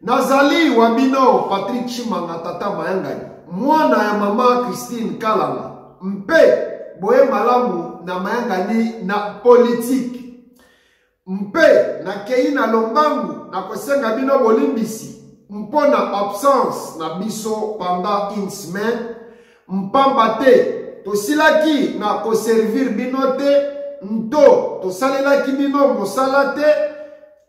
Nazali wa bino Patrick Chimanga Tata Mayangani, mwana ya mama Christine Kalanga, mpe boye malamu na mayangani na politiki mpe nakei na lombangu na kosenga bino bolimbisi mpo na absence na biso pendant une semaine mpamba te tosilaki na koservir bino te nto tosalelaki bino mosala te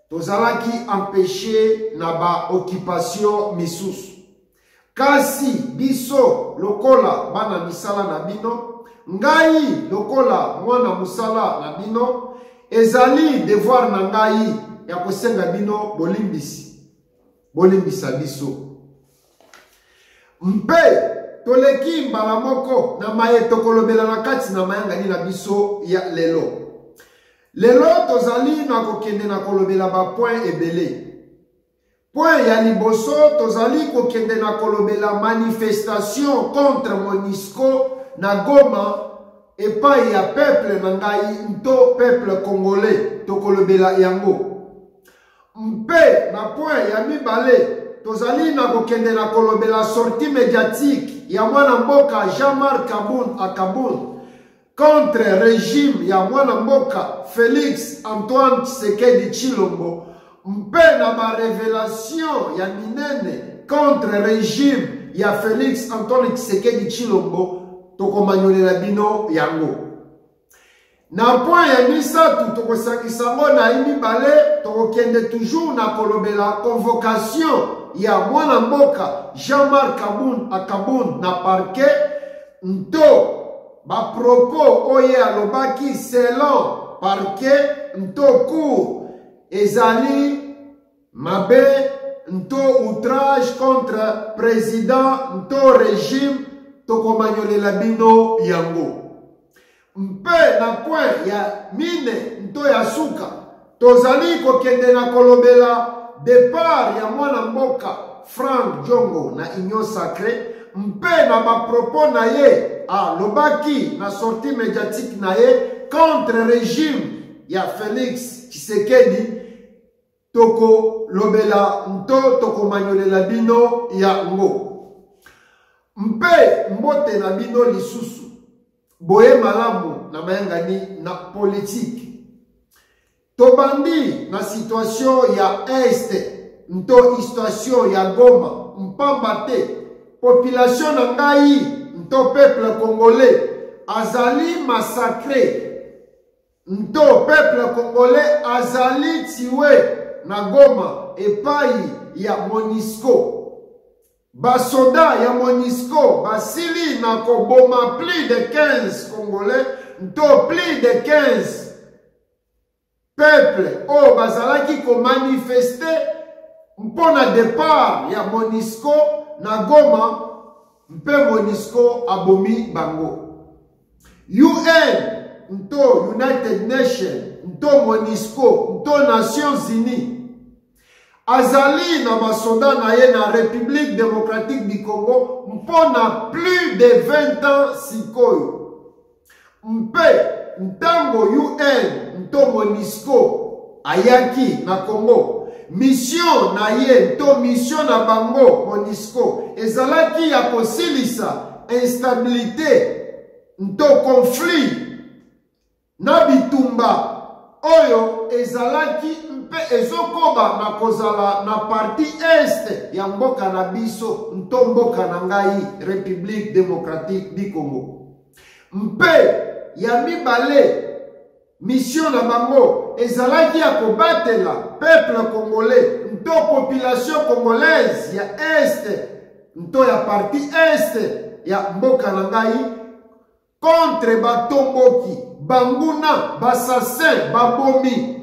tozalaki empeshe na baokipatio misusu kasi biso lokola bana misala na bino ngai lokola mwana mosala na bino ezali devoir na ngai ya kosenga bino bolimbisi bolimbisa biso mpe toleki mbala moko na maye tokolobela na kati na mayangani na biso ya lelo Lelo tozali na kokende na kolobela bapoint ebele. Point ya liboso tozali kokende na kolobela manifestation contre Monisco na Goma epai ya peuple na ngai nto peuple congolais tokolobela yango. Mpe na point ya mibale tozali na kokende na kolobela sortie mediatique ya mwana mboka Jean-Marc Kabund Akabund contre regime ya mwana mboka Felix Antoine Tshisekedi Tshilombo mpe na ba revelation ya minene contre regime ya Felix Antoine Tshisekedi Tshilombo tokomanyolela bino yango. Na point ya misato tokosangisa yango na ye mibale tokokende toujours na kolobela convocation ya mwana mboka Jean-Marc Kabund Akabund na parquet nto Ba propos oyo ye alobaki selon parquet nto cour ezali mabe nto outrage contre president nto regime tokomanyolela bino yango mpe na coin ya mine nto ya suka Tozali kokende na kolobela depart ya mwana mboka Frank Diongo na Union Sacree mpe na bapropos na ye alobaki na sortie mediatique na ye contre regime ya Felix Tshisekedi tokolobela nto tokomanyolela bino yango mpe mbote na bino lisusu boye malamu na mayangani na politiki tobandi na situatio ya este nto istatio ya goma mpamba te population na ngai nto peuple congolais azali masacre nto peuple congolais azali tiwe na goma epai ya monisco Basoda ya Monisco basili na koboma plus de 15 Congolais nto plus de 15 peuple oyo bazalaki komanifeste mpo na depart ya Monisco na Goma mpe Monisco abomi bango. UN nto United Nations nto Monisco nto Nations Unies azali na basoda na ye na république démocratique du congo mpo na plus de 20 ans sikoyo mpe ntango un to monisco ayaki na congo misio na ye to misio na bango monisco ezalaki ya kosilisa instabilité to conflit Na bitumba oyo ezalaki mpe ezokoba na kozala na parti est ya mboka na biso nto mboka na ngai Republique Democratique du Congo mpe ya mibale mission na bango ezalaki ya kobatela peuple congolais nto population congolaise ya est nto ya parti est ya mboka na ngai contre batomboki banguna basasin babomi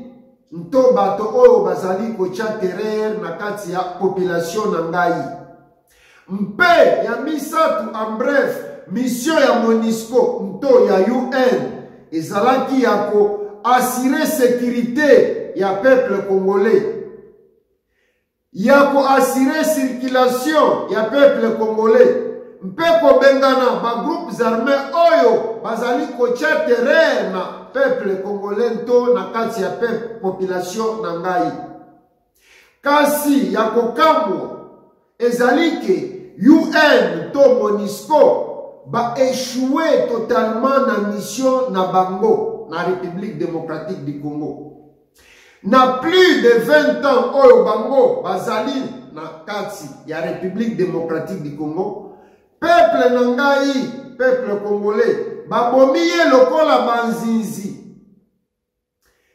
nto bato oyo bazali kotya terere na kati ya population na ngai mpe ya misato en bref misio ya monisco nto ya un ezalaki ya koassure sekirite ya peuple congolais ya ko assurer circulation ya peuple congolais mpe kobengana ba groupes armés oyo bazali kotya terreur na peuple congolais nto na kati ya peuple population na ngai kasi ya kokamwa ezali ke un to monisco baechoue totalement na mission na bango na république démocratique du congo Na plus de 20 ans oyo bango bazali na kati ya République démocratique du Congo, peuple na ngai, peuple congolais, babomi ye lokola banzinzi.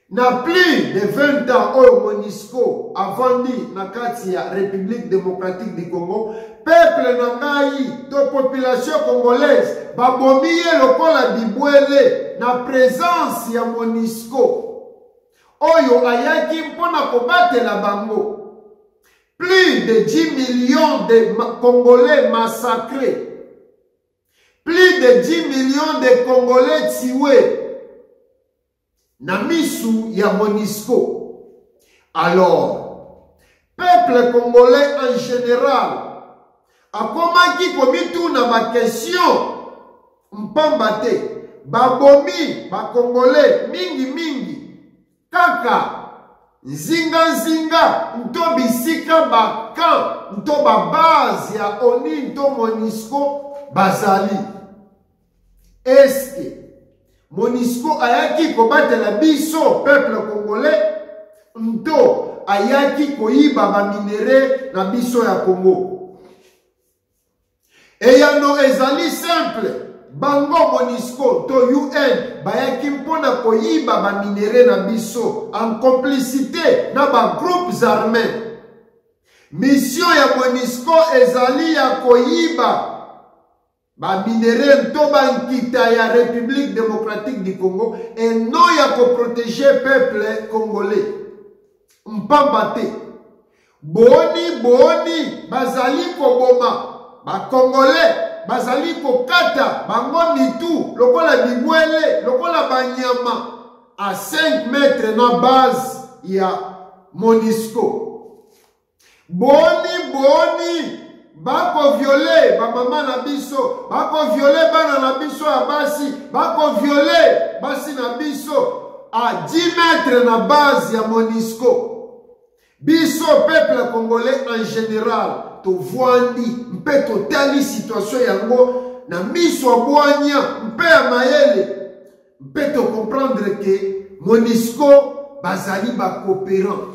Na plus de 20 ans oyo MONUSCO avandi na kati ya République démocratique du Congo, peuple na ngai to population congolaise babomi ye lokola bibwele na presence ya monisco oyo ayaki mpo na kobatela bango plus de 10 millions de congolais massacrés plus de 10 millions de congolais tués na misu ya monisco alors peuple congolais en général akomaki komituna bakestion mpamba te babomi bakongole mingimingi kaka nzinganzinga nto bisika bakan nto babase ya oni nto monisco bazali eske monisco ayaki kobatela biso peuple congolais nto ayaki koyiba baminere na biso ya congo eyano ezali simple bango monisco to un bayaki mpo na koyiba baminere na biso en complicité na bagroupes armés mission ya monisco ezali ya koyiba baminere to bankita ya république démocratique du congo eno ya koprotege peuple congolais mpamba te boni boni bazali koboma bacongolais bazali kokata bango mitu lokola bibwele lokola banyama a 5 mètre na base ya monisco boni boni bakoviole bamama na biso bakoviole bana na biso ya basi bakoviole basi na biso a 10 metre na base ya monisco biso peuple congolais en général tovwandi mpe totali situation yango na miso ya bwanya mpe ya mayele mpe tokomprendre ke monisco bazali bacoopérant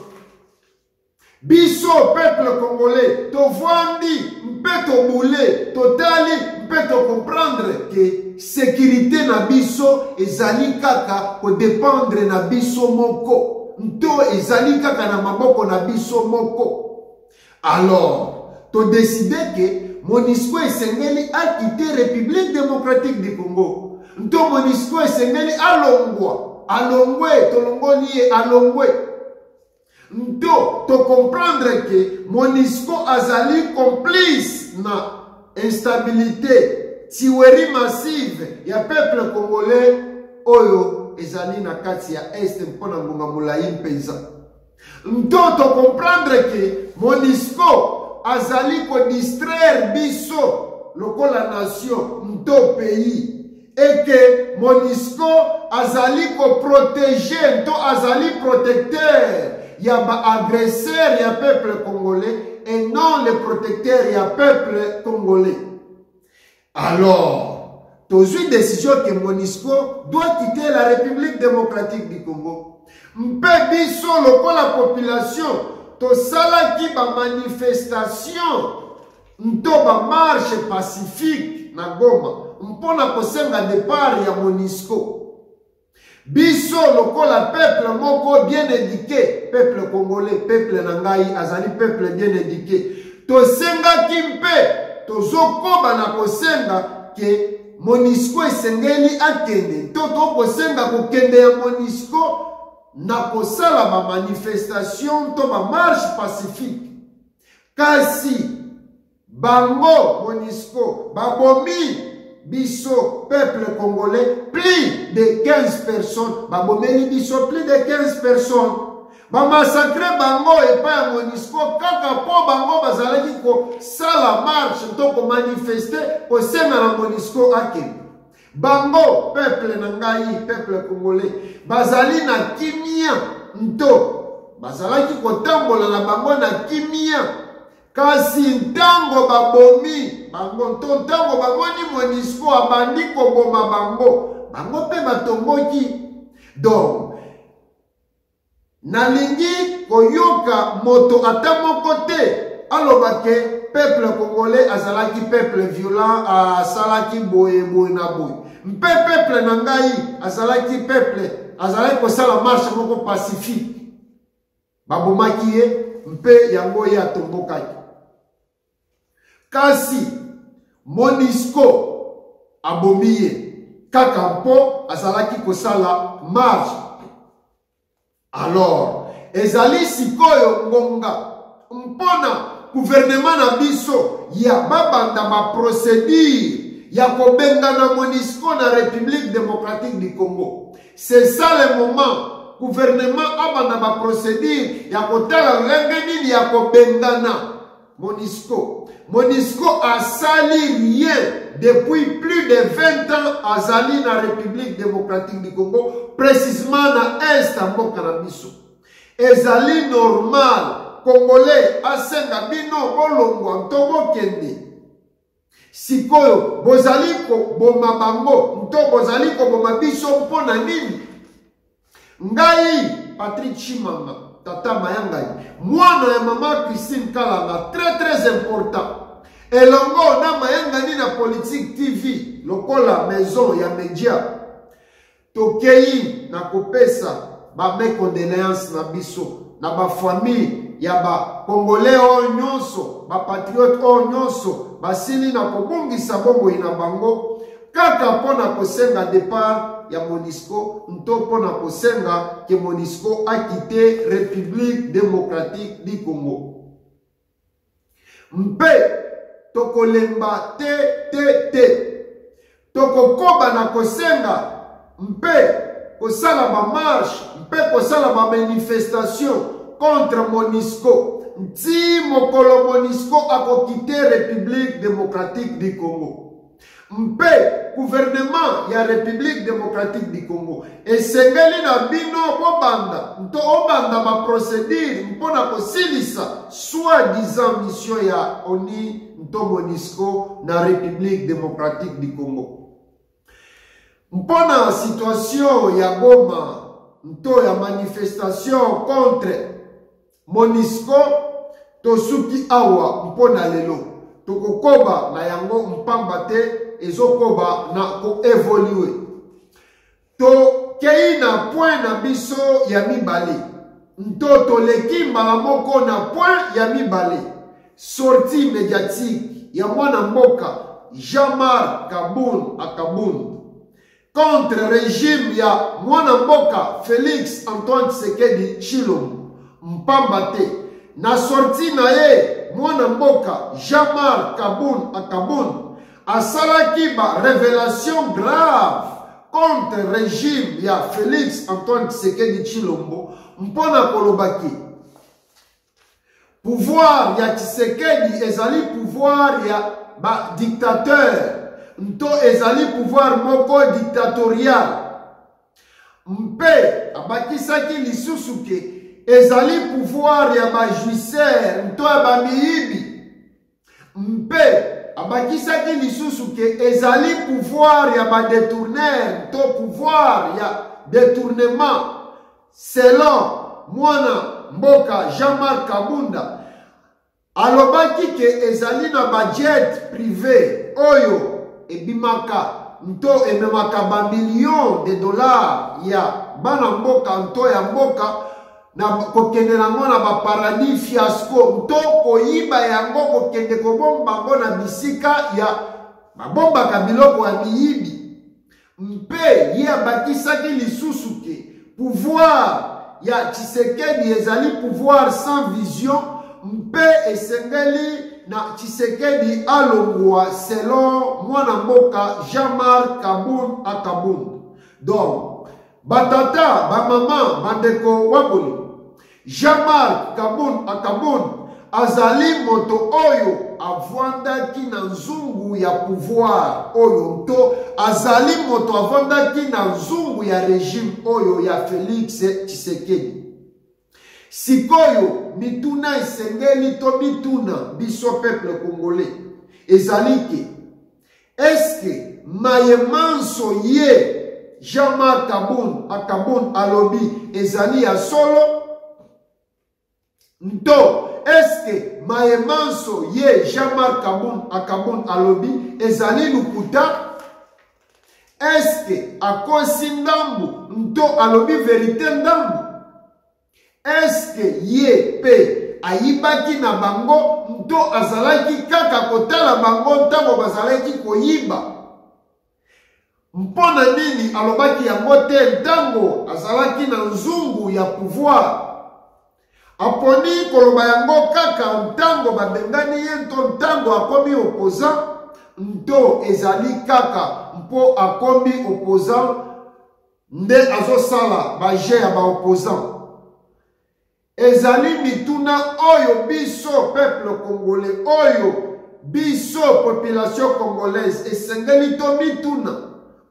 biso peuple congolais tovandi mpe tobule totali mpe tocomprendre ke sekirite na biso ezali kaka kodependre na biso moko nto ezali kaka na maboko na biso moko alors todeside ke monisco esengeli akite république démocratique du congo nto monisco esengeli alongwa alongwe tolongoli ye alongwe nto tocomprendre ke monisco azali complice na instabilité tiweri massive ya peuple congolais oyo ezali na kati ya este mpo na ngonga molai mpenza nto tocomprendre ke monisco azali kodistraire biso lokola nation nto pays et que Monisco azali ko protéger to azali protecteur ya ba agresseurs ya peuple congolais et non le protecteur ya peuple congolais. Alors, tozui décision que Monisco doit quitter la République démocratique du Congo. mpe biso lokola population tosalaki bamanifestation nto ba marche pacifique na goma mpo na kosenga depart ya monisco biso lokola peuple moko bien éduqué peuple congolais peuple na ngai azali peuple bien éduqué tosengaki mpe tozokoba na kosenga ke monisco esengeli akende to tokosenga kokende ya monisco na kosala bamanifestation to bamarche pacifique Kasi bango Monisco babomi biso peuple congolais plus de 15 personnes babomeli biso plus de 15 personnes bamassacre bango epai ya monisco kaka mpo bango bazalaki kosala marche to komanifeste kosenga na monisco akende Bango, peuple na ngai, peuple congolais, bazali na kimia nto bazalaki kotambola na bango na kimia kasi ntango babomi bango nto ntango bamoni monisco abandi koboma bango bango mpe batomboki donc nalingi koyoka moto ata moko te aloba ke peuple congolais azalaki peuple violent asalaki boye boye na boye mpe peuple na ngai azalaki peuple azalaki kosala marche moko pacifique babomaki ye mpe yango ye atombokaki kasi monisco abomi ye kaka mpo azalaki kosala marche alors ezali sikoyo ngonga mpona guvernema na biso ya babanda baprocedure ya kobengana monisco na république démocratique du congo C'est ça le moment gouvernement abanda ba procédure ya kotala lolenge nini ya kobengana Monisco. Monisco asali rien depuis plus de 20 ans azali na République démocratique du Congo, précisément na est ya mboka na biso. Ezali normal Congolais asenga bino bolongwa to bokende Sikoyo bozali koboma bango nto bozali koboma biso mpo na nini? Ngai Patrick Chimanga, tata mayangai, mwana ya mama Christine Kalanga, très très important. Elongo na mayangani na Politique TV lokola maison ya media. Tokeyi na kopesa ba mes condoleances na biso na ba famille ya ba congolais oyo nyonso ba patriote oyo nyonso basili na kobungisa bomoi na bango kaka mpo na kosenga depart ya monisco nto mpo na kosenga ke monisco akite république démocratique du congo mpe tokolemba te te te tokokoba na kosenga mpe kosala bamarshe mpe kosala bamanifestation contre monisco nti mokolo monisco akokite république démocratique du congo mpe guvernema ya Republique Democratique du Congo esengeli na bino bobanda nto obanda baprocedure mpo na kosilisa soi-disant mission ya ONI nto MONUSCO na Republique Democratique du Congo. Mpo na situation ya Goma nto ya manifestation contre Monisco tosuki awa mpo na lelo tokokoba na yango mpamba te ezokoba na koevolue tokei na point na biso ya mibale nto toleki mbala moko na point ya mibale sortie médiatique ya mwana mboka jean-marc kabun akabun contre regime ya mwana mboka Felix Antoine Tshisekedi Tshilombo mpamba te na sortie na ye mwana mboka Jean-Marc Kabund Akabund asalaki ba revelation grave contre regime ya Felix Antoine Tshisekedi Tshilombo mpo na kolobaki Pouvoir ya Tshisekedi ezali pouvoir ya ba dictateur nto ezali pouvoir moko dictatorial mpe abakisaki lisusu ke ezali pouvoir ya bajuisere nto ya bamiyibi mpe abakisaki lisusu ke ezali pouvoir ya badetourner to pouvoir ya detournement selon mwana mboka jean-marc kabunda alobaki ke ezali na bajet prive oyo ebimaka nto ememaka bamillion de dollars ya bana mboka nto ya mboka na kokende nango na baparadis fiasco to koyiba yango kokende kobomba yango na bisika ya babombaka biloko ya miyibi mpe ye abakisaki lisusu te pouvoir ya tshisekedi ezali pouvoir sans vision mpe esengeli na tshisekedi alongwa selon mwana mboka jean marc kabund akabund donc Batata, bamama, bandeko waboli, Jean-Marc Kabund Akabund azali moto oyo avandaki na nzungu ya pouvoir oyo nto azali moto avandaki na nzungu ya regime oyo ya Felix Tshisekedi. Sikoyo mituna esengeli to bituna biso peuple congolais ezali ke eske maye manso ye Jean-Marc Kabund akabund alobi ezali ya solo nto eske maye manso ye Jean-Marc Kabund akabund alobi ezali lukuta eske akosi ndambu nto alobi verite ndambu eske ye pe ayibaki na bango nto azalaki kaka kotala bango ntango bazalaki koyiba mpo na nini alobaki yango te ntango azalaki na nzungu ya pouvoir aponi koloba yango kaka ntango babengani ye nto ntango akomi opposant nto ezali kaka mpo akomi opposant nde azosala baje ya baopposant ezali mituna oyo biso peuple congolais oyo biso population congolaise esengeli tomituna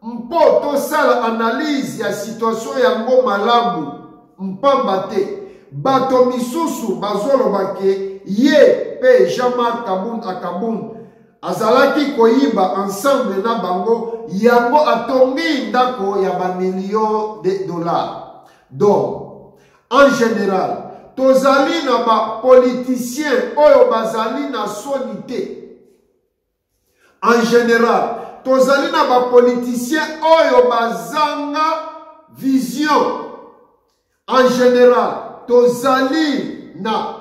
Mpo tosala analyse ya situation yango malamu, mpamba te bato misusu bazoloba ke ye pe Jean-Marc Kabund à Kabund azalaki koyiba ensemble na bango yango atongi ndako ya ba millions de dollars. Donc, en general, tozali na ba politiciens oyo bazali na soni te. En general, tozali na ba politiciens oyo bazanga vision. En general, tozali na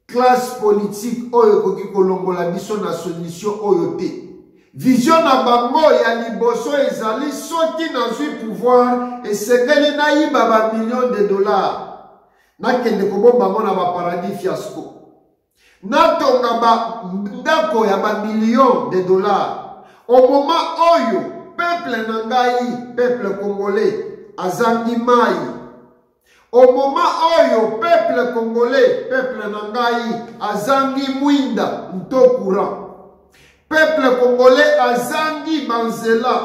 classe politique oyo ekoki kolongola biso na solution oyo te. Vision na bango ya liboso ezali soki nazwi pouvoir esengeli nayiba ba millions de dollars nakende kobomba yango na ba paradis fiasco. natonga ba ndako ya ba millions de dollars au moment oyo peuple na ngai peuple congolais azangi mai au moment oyo peuple congolais peuple na ngai azangi mwinda nto courant peuple congolais azangi banzela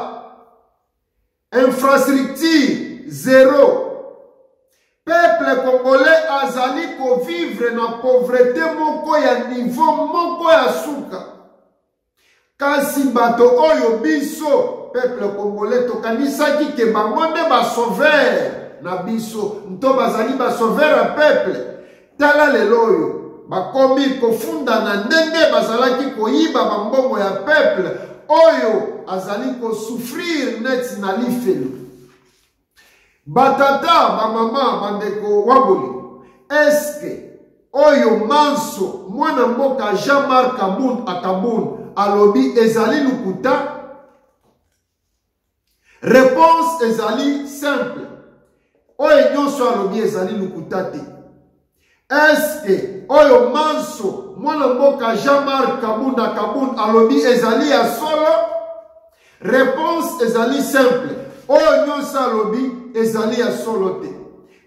infrastructure zero peuple congolais azali kovivre na pauvrete moko ya niveau moko ya suka kasi bato oyo biso peuple congolais tokanisaki ke bango nde basauveur na biso nto bazali basauveur ya peuple Tala lelo oyo bakomi kofundana ndenge bazalaki koyiba bambongo ya peuple oyo azali kosouffrir neti na lifelo batata bamama bandeko waboli eske oyo manso mwana mboka jean-marc kabund akabund alobi ezali lokuta Réponse ezali simple. Oyo nyonso alobi ezali lokuta te. Est-ce que oyo manso mwana mboka Jean-Marc Kabunda Kabund alobi ezali ya solo? Réponse ezali simple. Oyo nyonso alobi ezali ya solo te.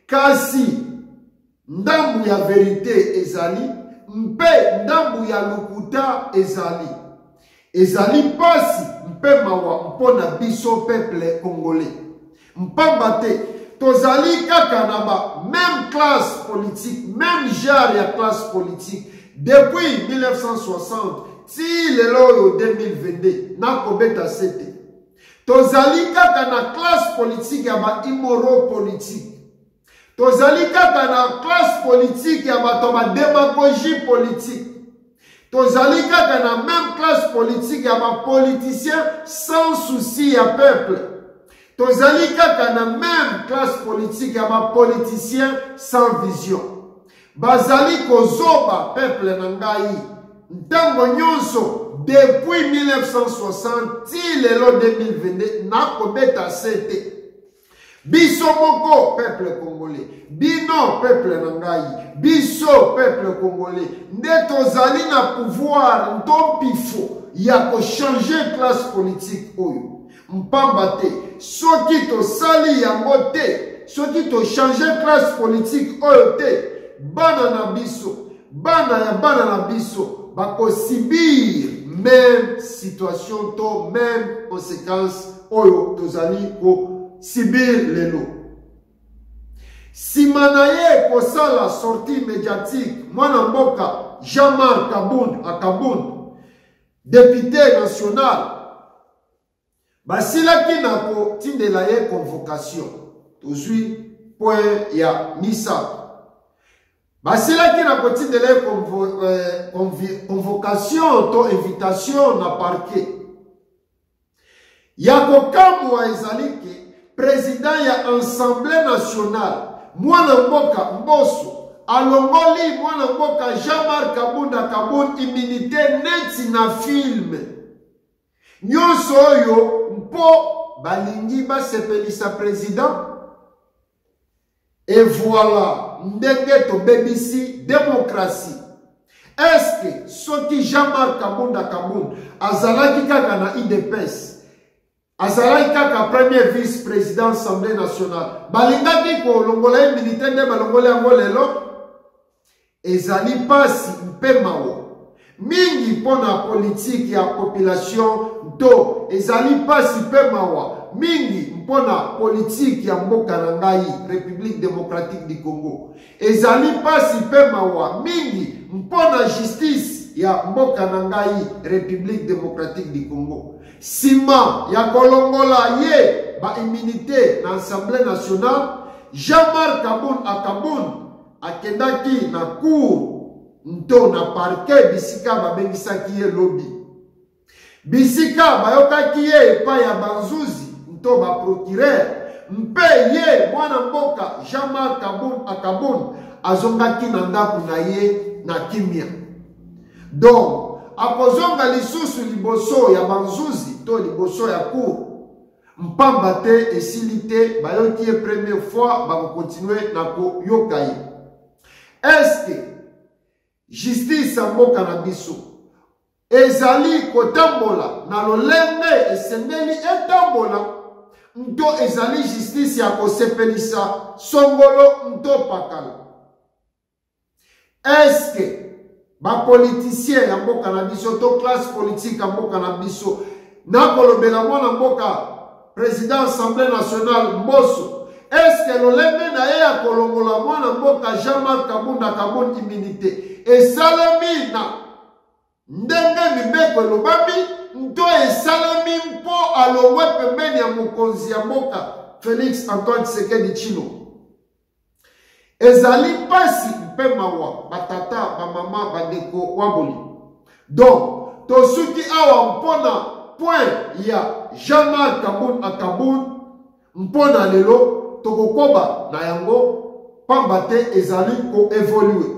Kasi Ndambu ya verite ezali mpe ndambu ya lokuta ezali. Ezali pasi mpe mawa mpo na biso peuple congolais. Mpamba te tozali kaka na ba meme classe politique, meme genre ya classe politique depuis 1960 ti lelo oyo 2022 nakobeta sete tozali kaka na classe politique ya ba immoro politique tozali kaka na classe politique ya bato ya bademagogie politique tozali kaka na même classe politique ya bapoliticien sans souci ya peuple tozali kaka na même classe politique ya bapoliticien sans vision bazali kozoba peuple na ngai ntango nyonso depuis 1960 ti lelo 2022 nakobeta se te biso moko peuple congolais bino peuple na ngai biso peuple congolais nde tozali na pouvoir nto mpifo ya kochanger classe politique oyo mpamba te soki tosali yango te soki tochange classe politique oyo te bana na biso Bana ya bana na biso bakosibir meme situation to meme conséquence oyo tozali kosibir lelo nsima na ye kosala sortie médiatique mwana mboka jean-marc kabund akabund depute national Basilaki na kotindela ye convocation. Tozwi point ya misato. Basilaki na kotindela ye convo, eh, convi, convocation to invitation na parquet. Ya kokamwa ezali ke president ya Assemblée nationale mwana mboka Mboso alongoli mwana mboka Jean-Marc Kabunda Kabund immunité neti na film. nyonso oyo mpo balingi basepelisa president e voilà ndenge tobebisi demokrasi eske soki jean-marc kabunda kabund azalaki kaka na idps azalaki kaka premier vice président assemblée nationale balingaki kolongola ye militaire nde balongola yango lelo Ezali mpasi mpe mawa mingi mpo na politiki ya population nto ezali mpasi mpe mawa mingi mpo na politiki ya mboka na ngai République démocratique du Congo. Ezali mpasi mpe mawa mingi mpo na justice ya mboka na ngai République démocratique du Congo. Nsima ya kolongola ye ba immunité na Assemblée nationale, Jean-Marc Kabund Akabund akendaki na cour nto na parke bisika babengisaki ye lobi bisika bayokaki ye epai ya banzuzi nto baprokirere mpe ye mwana mboka jean-marc kabun akabun azongaki na ndako na ye na kimia donc akozonga lisusu liboso ya banzuzi to liboso ya cour mpamba te esili te bayoki ye première fois bakokontinue na koyoka ye eske justice ya mboka na biso ezali kotambola na lolenge esengeli etambola nto ezali justice ya kosepelisa songolo nto pakala Est-ce que ba politiciens ya mboka na biso to classe politique ya mboka na biso nakolobela mwana mboka président assemblée nationale mboso est-ce que lolenge na ye ya kolongola mwana mboka Jean-Marc Kabunda Kabund immunité esalemi na ndenge mibeko elobami nto esalemi mpo alongwe pembeni ya mokonzi ya mboka Félix Antoine Tshisekedi Tshilombo ezali mpasi mpe mawa batata bamama bandeko waboli donc tosuki awa mpo na point ya jean-marc kabun akabun mpo na lelo tokokoba na yango mpamba te ezali koevolue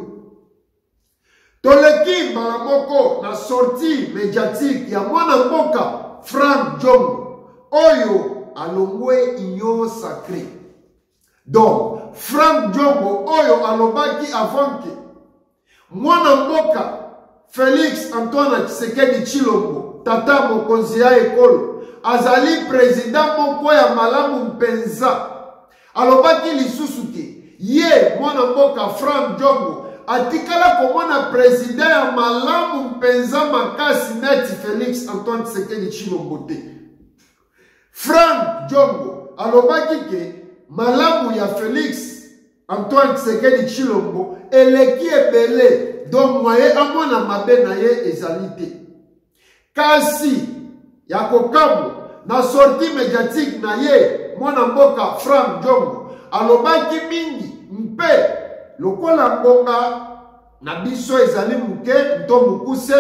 toleki mbala moko na sortie mediatique ya mwana mboka frank jong oyo alongwe union sacree donc frank diongo oyo alobaki avant ke mwana mboka felix antoine tshisekedi tshilombo tata mokonzi ya ekolo azali president moko ya malamu mpenza alobaki lisusu te ye mwana mboka frank diongo atikala komona president ya malamu mpenza makasi neti felix antoine tshisekedi tshilombo te Frank Diongo alobaki ke malamu ya Felix Antoine Tshisekedi Tshilombo eleki ebele donc moye amona mabe na ye ezali te kasi ya kokamwa na sortie mediatique na ye mwana mboka Frank Diongo alobaki mingi mpe lokola ngonga na biso ezali moke to mokuse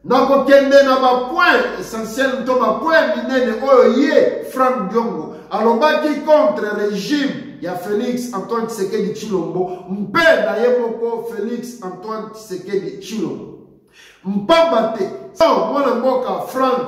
na kokende na bapoint essentiel to bapoint minene oyo ye frank diongo alobaki contre regime ya félix antoine tshisekedi tshilombo mpe na ye moko félix antoine tshisekedi tshilombo mpamba te mwana mboka frank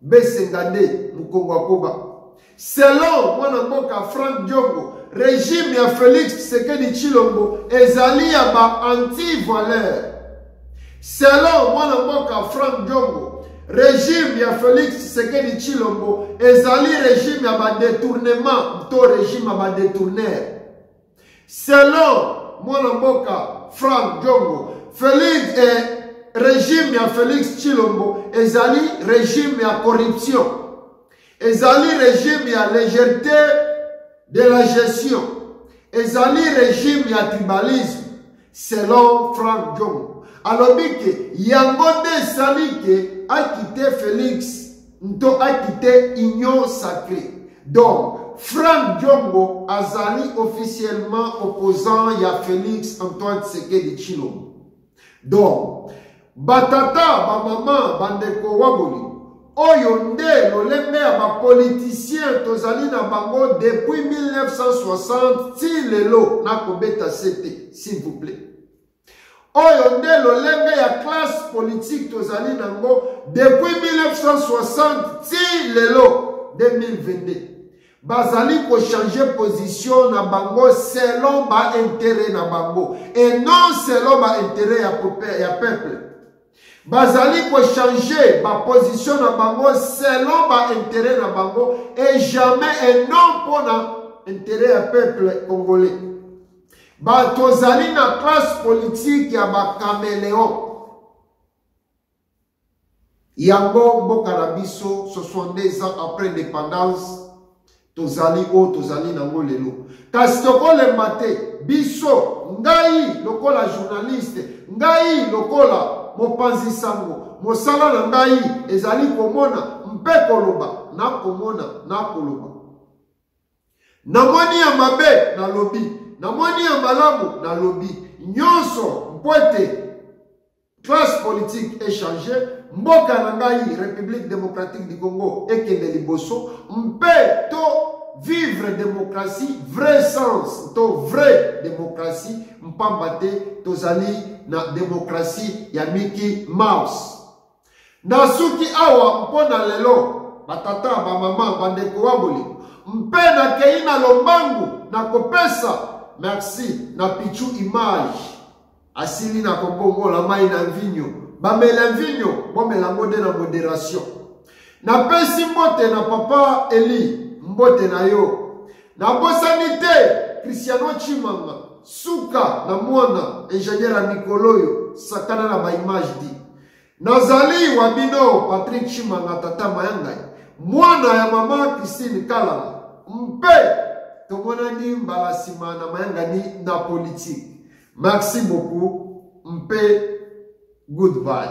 Besengande mukongo akoba. Selon mwana mboka Frank Diongo, regime ya Felix Tshisekedi Chilombo ezali ya ba anti-valeur. Selon mwana mboka Frank Diongo, regime ya Felix Tshisekedi Chilombo ezali regime ya ba detournement to regime ya ba detourner. Selon mwana mboka Frank Diongo, Felix eh, regime ya Felix Tshilombo ezali regime ya corruption. Ezali regime ya légèreté de la gestion. Ezali regime ya tribalisme. selon frank jong alobi ke yango nde esali ke akite felix nto akite union sacré donc frank jongo azali officiellement opposant ya felix antoine tshisekedi tshilombo donc Batata, bamama, bandeko waboli, oyo nde lolenge ya bapolitisien tozali na bango depuis 1960 ti lelo nakobeta sete s'il vous plaît oyo nde lolenge ya classe politique tozali nango depuis 1960 ti lelo 2022 bazali kochanger position na bango selon bainteret na bango et non selon bainteret ya, ya peuple bazali kochanger baposition na bango selon bainteret na bango et jamais et non mpo na interet ya peuple congolais bato ozali na classe politique ya bacameleon Yango mboka na biso 62 ans après indépendance tozali oyo tozali nango lelo kasi tokolemba te biso ngai lokola journaliste ngai lokola mopanzi sango mosala na ngai ezali komona mpe koloba na komona na koloba namoni ya mabe nalobi namoni ya malamu nalobi nyonso mpo ete Classe politique est changée, mboka na ngai République démocratique du Congo ekende liboso mpe to vivre démocratie vrai sens to vrai démocratie mpamba te tozali na démocratie ya Mickey Mouse. Nasuki awa mpo na lelo batata bamama bandeko wa bolingo mpe nakei na lombangu na kopesa merci na pichu image Asili na kobongola mai na mvinyo. Bamela mvinyo, bomela yango nde na moderation. Napesi mbote na papa Eli, mbote na yo. Nabosani te Cristiano Chimanga, suka na mwana ingenieur ya mikolo oyo, sakana na ba image di. Nazali wa bino Patrick Chimanga tata mayangai mwana ya mama Christine Kalala mpe tomonani mbala nsima na mayangani na politike. Merci beaucoup mpe goodbye.